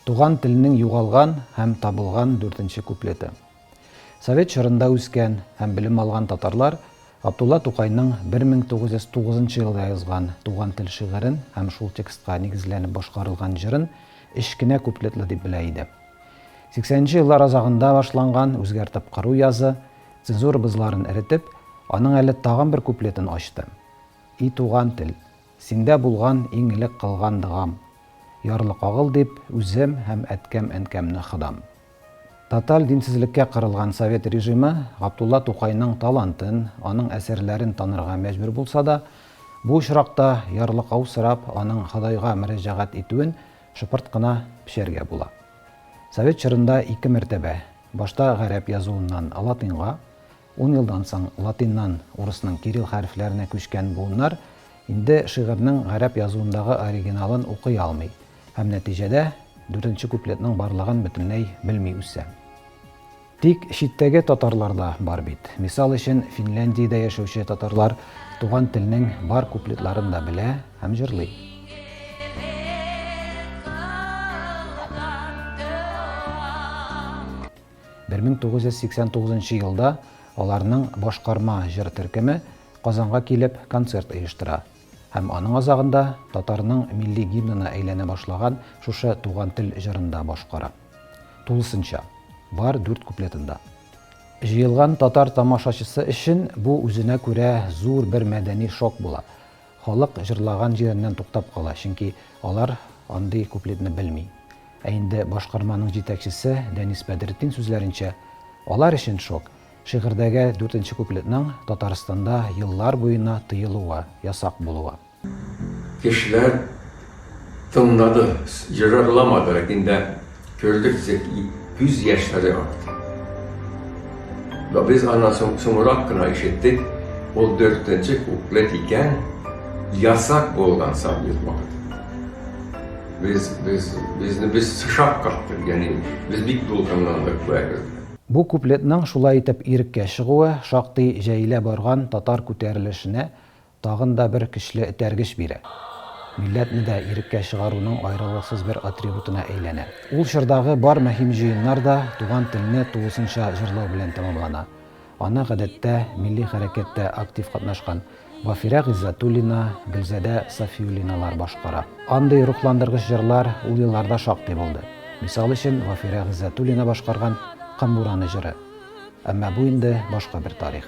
Туган телнең югалган һәм табылган дүртенче куплеты. Совет чорында үскән һәм белем алган татарлар Габдулла Тукайның 1909 нчы елда язган Туган тел шигырен һәм шул текстка нигезләнеп башкарылган җырын өч кенә куплетлы дип белә иде. Сиксәненче еллар азагында башланган үзгәртеп кору язы, цензура бозларын эретеп, аның әле тагын бер куплетын ачты. И туган тел! Синдә булган иң элек кылган догам, Ярлы кагыл дип, үзем һәм әткәм-әнкәмне Ходам. Тоталь динсезлеккә кырылган совет режимы Габдулла Тукайның талантын, аның әсәрләрен танырга мәҗбүр булса да, бу очракта ярлыкау сорап аның Ходайга мөрәҗәгать итүен шыпырт кына пчәргә була. Совет чорында ике мәртәбә, башта гарәп язуыннан латыньга, Ун елдан соң латиннан урысның кирилл хәрефләренә күчкән буыннар инде шигырьнең гарәп язуындагы оригиналын укый алмый һәм нәтиҗәдә дүртенче куплетның барлыгын бөтенләй белми үсә. Тик читтәге татарлар да бар бит. Мисал өчен, Финляндиядә яшәүче татарлар туган телнең бар куплетларын да белә һәм җырлый. 1989 елда аларның башкарма җыр төркеме Казанга килеп концерт оештыра. Һәм аның азагында татарның милли гимнына әйләнә башлаган шушы Туган тел җырын да башкара. Тулысынча, бар дүрт куплетында. Җыелган татар тамашачысы өчен бу үзенә күрә зур бер мәдәни шок була. Халык җырлаган җиреннән туктап кала, чөнки алар андый куплетны белми. Ә инде башкарманың җитәкчесе Дәнис Бәдретдин сүзләренчә, алар өчен шок, шигырьдәге дүртенче куплетның Татарстанда еллар буена тыелуы, ясак булуы. Кешеләр тыңлады, җырарламады, ләкин дә Күрдек күз яшьләре акты. Ла без аннан соң соңрак кына ишеттек, ул дүртенче куплет икән, ясак булган сабир вакыт. Без без безне без сышап кактык, ягъни без бик дулкынландык бу әгердә. Бу куплетның шулай итеп иреккә чыгуы шактый җәелә барган татар күтәрелешенә Тагын да бер көчле этәргеч бирә. Милләтне дә иреккә чыгаруның аерылгысыз бер атрибутына әйләнә. Ул чордагы бар мөһим җыеннар да туган телне тулысынча җырлау белән тәмамлана. Аны, гадәттә, милли хәрәкәттә актив катнашкан Вафирә Гыйззәтуллина, Гөлзадә Сафиуллиналар башкара. Андый рухландыргыч җырлар ул елларда шактый булды. Мисал өчен, Вафирә Гыйззәтуллина башкарган Кымбураны җыры. Әмма бу инде башка бер тарих.